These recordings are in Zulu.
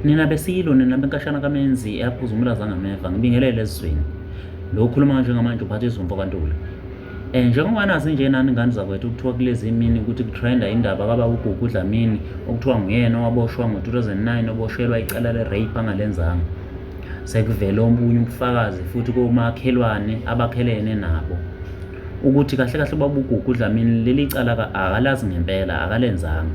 Nina beSilo, nina benkashana kaMenzi eyaphuza umlaza ngameva, ngibingelele ezweni. Lo ukhuluma kanje ngamanje uphatha izumfo kaNtuli. Eh njengoba nazi nje nani ngane zakwethu kuthiwa kulezi imini ukuthi kutrenda indaba kaba uGugu Dlamini okuthiwa nguyena owaboshwa ngo-2009 oboshelwa icala le-rape angalenzanga. Sekuvele omunye ubufakazi futhi komakhelwane abakhelene nabo ukuthi kahle kahle ubaba uGugu Dlamini leli cala akalazi ngempela akalenzanga.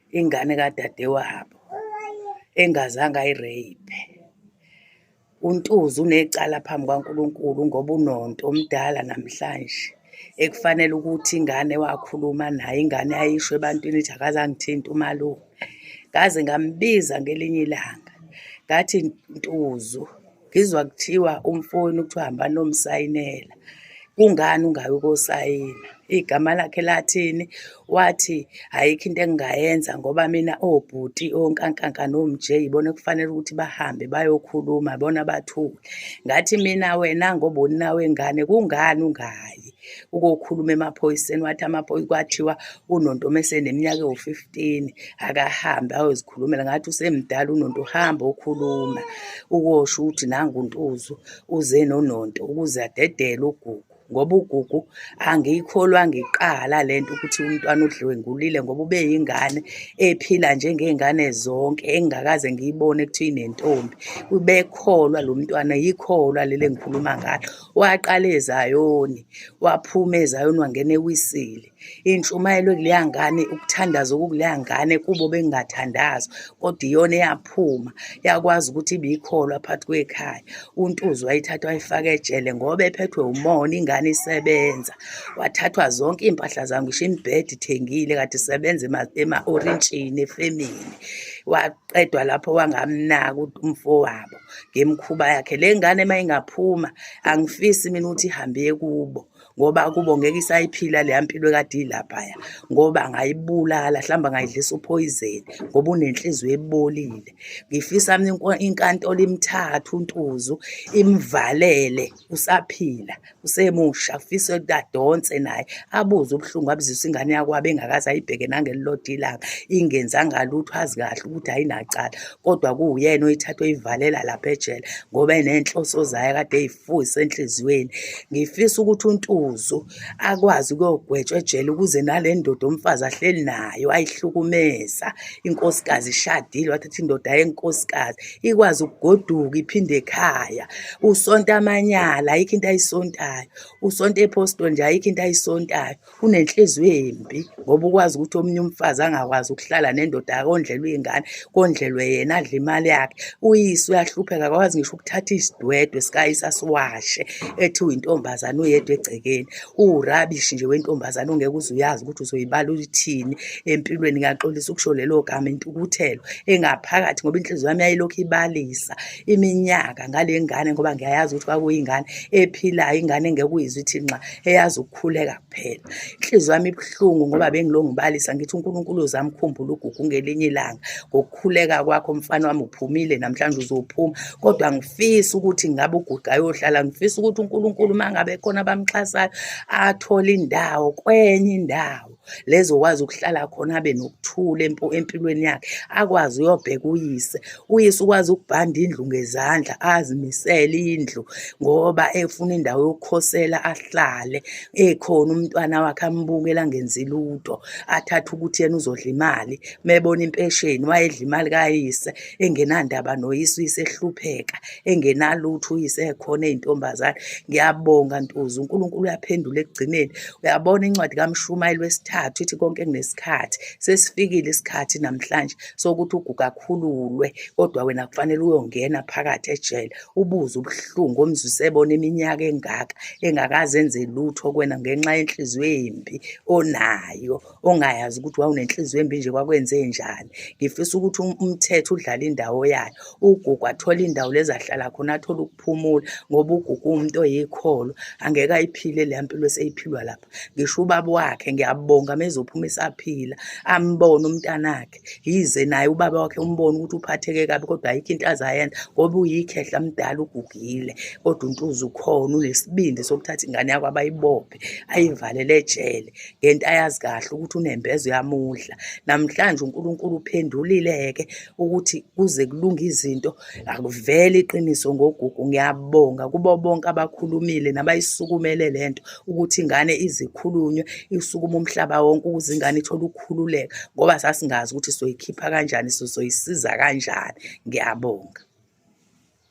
ingane kadadewabo engazange ayireyiphe uNtuzi unecala phambi kwaNkulunkulu ngoba unonto omdala namhlanje ekufanele ukuthi ingane wakhuluma naye ingane ayisho ebantwini ithi akazangithinta umalume ngaze ngambiza ngelinye ilanga ngathi Ntuzu ngizwa kuthiwa umfowenu kuthiwa hamba nomsayinela kungani ungayi ukosayina igama lakhe lathini wathi ayikho into engingayenza ngoba mina obhuti onkankanka nomj yibona kufanele ukuthi bahambe bayokhuluma bona bathule ngathi mina wena ngoba uninawe ngane kungani ungayi ukokhuluma emaphoyiseni wathi amaphoyisa kwathiwa unonto mese neminyaka ewu-15 akahambe ayozikhulumela ngathi usemdala unonto uhambe okhuluma ukosho ukuthi nanguntuzu uze nononto ukuze adedele ugugu ngoba ugugu angiyikholwa ngiqala le nto ukuthi umntwana udlwengulile ngoba ube yingane ephila njengey'ngane zonke engingakaze ngiyibone kuthiwa inentombi ubekholwa lo mntwana yikholwa leli engikhuluma ngalo waqala ezayoni waphuma ezayoni wangena ewisile intshumayelo kuleya ngane ukuthandaza okukuleya ngane kubo bengathandaza kodwa iyona eyaphuma yakwazi ukuthi ibiyikholwa phakathi kwekhaya untuzi wayithatha wayifaka ejele ngoba ephethwe umona ingane isebenza wathathwa zonke iy'mpahla zam ngisho imibhedi ithengile kade isebenza ema-orintshini efemini qedwa lapho wangamnaka umfowabo ngemkhuba yakhe le ngane uma ingaphuma angifisi mina ukuthi ihambe kubo ngoba kubo ngeke isayiphila leya mpilo kade ilaphaya ngoba ngayibulala hlamba ngayidlisa uphoyizeni ngoba unenhliziyo ebolile ngifisa mina inkantolo imthatha untuzu imvalele usaphila usemusha fisa ukuthi adonse naye abuze ubuhlungu abuzisa ingane yakwabo engakaze ayibheke nangelilodwa ilanga ingenzanga lutho azi kahle ukuthi ayinacala kodwa kuwuyena oyithatha oyivalela lapha ejele ngoba enenhloso zayo kade eyifuyise enhliziyweni ngifisa ukuthi untuzu akwazi ukuyogwetshwa ejele ukuze nale ndoda umfazi ahleli nayo ayihlukumeza inkosikazi ishadile wathatha indoda yenkosikazi ikwazi ukugoduka iphinde ekhaya usonta amanyala ayikho into ayisontayo usonta ephostol nje ayikho into ayisontayo unenhliziyo embi ngoba ukwazi ukuthi omunye umfazi angakwazi ukuhlala nendoda akondlelwe iy'ngane kondlelwe yena adle imali yakhe uyise uyahlupheka akakwazi ngisho ukuthatha isidwedwe sikayise asiwashe ethi uyintombazane uyedwa egcekeni uwurabishi nje wentombazane ongeke uze uyazi ukuthi uzoyibala uyithini empilweni ngiyaxolisa ukusho lelo gama intukuthelo engaphakathi ngoba inhliziyo yami yayilokhu ibalisa iminyaka ngale ngane ngoba ngiyayazi ukuthi kwakuyingane ephilayo ingane engeke uyizwe ithi nxa eyazi ukukhuleka kuphela inhliziyo yami ibuhlungu ngoba bengilongibalisa ngithi unkulunkulu uzamkhumbula ugugu ngelinye ilanga ukukhuleka kwakho mfana wami uphumile namhlanje uzophuma kodwa ngifisa ukuthi ngabe uguqa ayohlala ngifisa ukuthi uNkulunkulu uma ngabe khona abamxhasayo athole indawo kwenye indawo lezokwazi ukuhlala khona abe nokuthula empilweni yakhe akwazi uyobheka uyise uyise ukwazi ukubhanda indlu ngezandla azimisele indlu ngoba efuna indawo yokukhosela ahlale ekhona umntwana wakhe ambukela ngenzi lutho athathe ukuthi yena uzodla imali mebona impesheni wayedla imali kayise engenandaba noyise uyise ehlupheka engenalutho uyise ekhona ezintombazane ngiyabonga ntuzu uNkulunkulu uyaphendula ekugcineni uyabona incwadi kaMshumayeli wesithathu ithi konke kunesikhathi sesifikile isikhathi namhlanje sokuthi uguga akhululwe kodwa wena kufanele uyongena phakathi ejele ubuze ubuhlungu omzwise ebona iminyaka engaka engakazenze lutho kwena ngenxa yenhliziyo embi onayo ongayazi ukuthi wawunenhliziyo embi nje kwakwenze njani ngifisa ukuthi um, umthetho udlale indawo yayo ugugu athole indawo lezahlala khona athole ukuphumula ngoba ugugu umuntu oyikholo angeke ayiphile le mpilo eseyiphilwa lapha ngisho ubaba wakhe ngiyabonga mezophuma esaphila ambone umntanakhe yize naye ubaba wakhe umbona ukuthi uphatheke kabi kodwa ayikho into azayenza ngoba uyikhehla mdala ugugile kodwa untuza ukhona unesibindi sokuthatha ingane yakho abayibophe ayivalele ejele ngento ayazi kahle ukuthi unembeza uyamudla namhlanje unkulunkulu uphendulile-ke ukuthi kuze kulunge izinto akuvele iqiniso ngogugu ngiyabonga kubo bonke abakhulumile nabayisukumele le nto ukuthi ingane izikhulunywe isukuma umhlaba wonke ukuze ingane ithole ukukhululeka ngoba sasingazi ukuthi soyikhipha kanjani sizoyisiza kanjani ngiyabonga